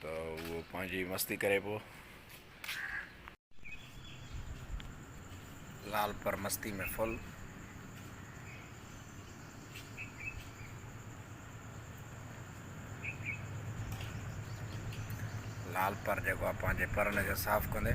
ته اهو پنهنجي مستي ڪري پيو. لال پر مستي ۾ ڦل. لال پر جيڪو آهي پنهنجي پرن کي صاف ڪندي.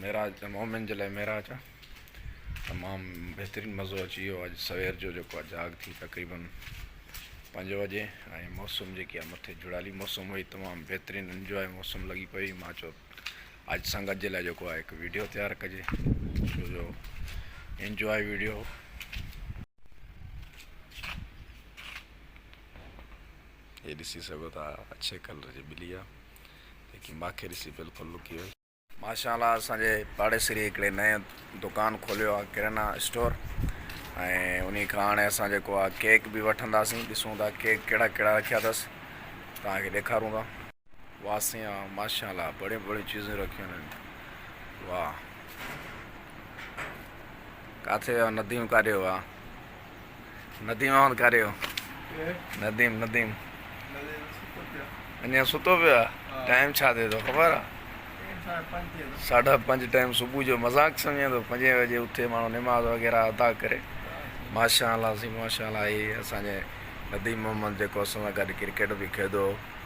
معراج ته مؤمن جي لاء معراج آ. تمام بهترين مزو اچي ويو اڄ سوير جو جيڪو آ جاڳ ٿي تقريبن پنج وڄي ۽ موسم جيڪي آ مٿي جھڙالي موسم هئي تمام بهترين انجواء موسم لڳي پئي مان چيو اڄ سنگت جي لاء جيڪو آ هڪ ويڊيو تيار ڪجي ڇو جو انجواء ويڊيو هي ڏسي سگهو ٿا اڇي ڪلر جي ٻلي آ جيڪي ماکي ڏسي بلڪل لڪي وئي. ماشاء الله اسان جي پاڙيسري هڪڙي نئين دڪان کوليو آهي ڪرينا اسٽور ۽ انهي کان هاڻي اسان جيڪو آهي ڪيڪ به وٺنداسين ڏسون ٿا ڪيڪ ڪهڙا ڪهڙا رکيا اٿس توهان کي ڏيکارون ٿا واهه سيان ماشاء الله بڙيون بڙيون چيزون رکيون آهن واهه ڪاٿي ويا نديون ڪاڏي ويا نديم احمد ڪاريو نديم نديم اڃا ستو پيو آ ٽائيم ڇا ٿئي ٿو خبر آ ساڍا پنج ٽائيم صبح جو مذاق سمجھي ٿو پنجين بجي اٿي ماڻھو نماز وغيرا ادا ڪري ماشاء الله سي ماشاء الله اھي اسان جي نديم محمد جيڪو اسان سان گڏ ڪرڪيٽ به کيڏو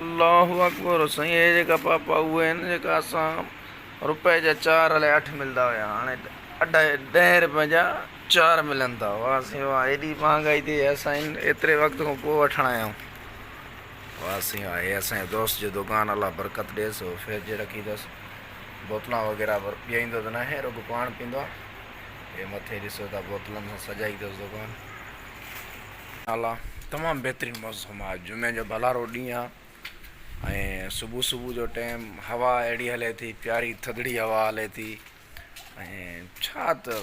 الله اڪبر سائين اهي جيڪا پاپا اهي آهن جيڪا اسان روپئي جا چار الائي اٺ ملدا هيا هاڻي اڍائي ڏهين روپئي جا چار ملن ٿا واه سائين واه ايڏي مهانگائي ٿي اهي اسان ايتري وقت کان پوء وٺڻ آيا آهيون واه سائين واه اهي اسان جي دوست جو دڪان الله برڪت ڏيس هو فرج رکي اٿس بوتلان وغيره پر پيئيندو ته ناهي رڳو پاڻ پيندو آهي اهي مٿي ڏسو ٿا بوتلن سان سجائي اٿس دڪان اعليٰ تمام بهترين موسم آ اڄ جمعي جو ڀلارو ڏينهن آ ۽ صبح صبح جو ٽيم هوا اهڙي هلي ٿي پياري ٿڌڙي هوا هلي ٿي ۽ ڇا ته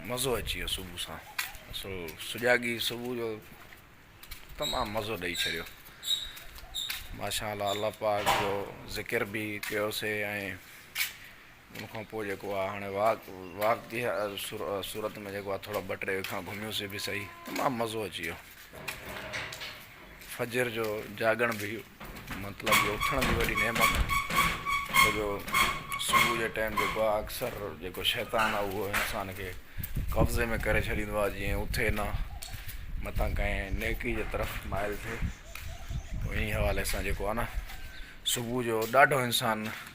مزو اچي ويو صبح سان سو سجاڳي صبح جو تمام مزو ڏئي ڇڏيو ماشاء الله الله پاڪ جو ذڪر بي ڪيوسي ۽ ان کان پوء جيڪو آ هاڻي واڪ واڪ جي صورت ۾ جيڪو آ ٿورا ٻه ٽي اکان گهميوسي به صحيح تمام مزو اچي ويو. فجر جو جاڳڻ به مطلب جو اٿڻ جي وڏي نعمت آ ڇو جو صبح جي ٽيم جيڪو آ اڪثر جيڪو شيطان آ اهو انسان کي قبضي ۾ ڪري ڇڏيندو آ جيئن اٿي نه متان ڪنهن نيڪي جي طرف مائل ٿئي انهي حوالي سان جيڪو آ نه صبح جو ڏاڍو انسان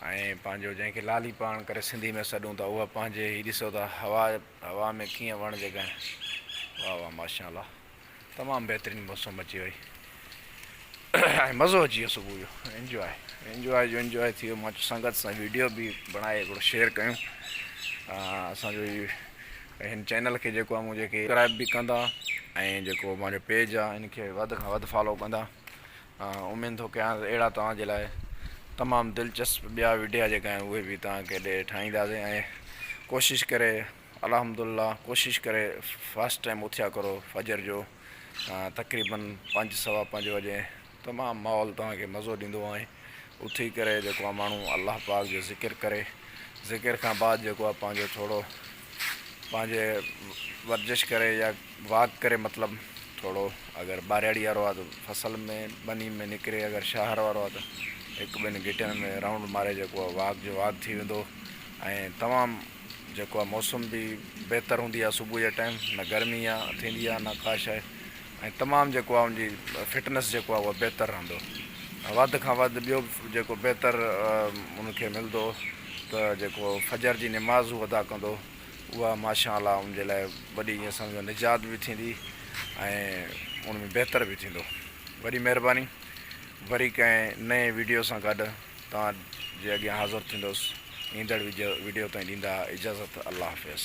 ۽ پنهنجو جنهن کي لالي پاڻ ڪري سنڌي ۾ سڏون ٿا اها پنهنجي هي ڏسو ته هوا هوا ۾ ڪيئن وڻ جي ڳائين واهه واهه ماشاء الله تمام بهترين موسم اچي وئي ۽ مزو اچي ويو صبح جو انجواء انجواء جو انجواء ٿي ويو ماچو سنگت سان ويڊيو به بڻائي هڪڙو شيئر ڪيون اسانجو هن چينل کي جيڪو مون جيڪي سبسڪرائب به ڪندا ۽ جيڪو مانجو پيج آ ان کي وڌ کان وڌ فالو ڪندا اميد ٿو ڪيان ته اهڙا توهان جي لاء تمام دلچسپ ٻيا وڊيا جيڪا آهن اهي به توهان کي ڏي ٺاهينداسين ۽ ڪوشش ڪري الحمد الله ڪوشش ڪري فاسٽ ٽائم اٿيا ڪرو فجر جو تقريبن پنج سوا پنج وجي تمام ماحول توهان کي مزو ڏيندو آهي اٿي ڪري جيڪو ماڻهو الله پاڪ جو ذڪر ڪري ذڪر کان بعد جيڪو پنهنجو ٿورو پنهنجي ورزش ڪري يا واڪ ڪري مطلب ٿورو اگر ٻارياڙي وارو آ ته فصل ۾ ٻني ۾ نڪري اگر شهر وارو آ ته هڪ ٻن گهٽين ۾ رائونڊ ماري جيڪو آ واڪ جو واڪ ٿي ويندو ۽ تمام جيڪو آ موسم به بهتر هوندي آ صبح جي ٽائيم نه گرمي آ ٿيندي آ نه ڪا شي ۽ تمام جيڪو آ ان جي فٽنس جيڪو آ اهو بهتر رهندو وڌ کان وڌ ٻيو به جيڪو بهتر ان کي ملدو ته جيڪو فجر جي نماز هو ادا ڪندو اها ماشاء الله ان جي لاء وڏي ائين سمجهو نجات به ٿيندي ۽ ان ۾ بهتر به ٿيندو وڏي مهرباني وري ڪنهن نئين ويڊيو سان گڏ توهان جي اڳيان حاضر ٿيندوس ايندڙ ويڊيو تائين ڏيندا اجازت الله حافظ.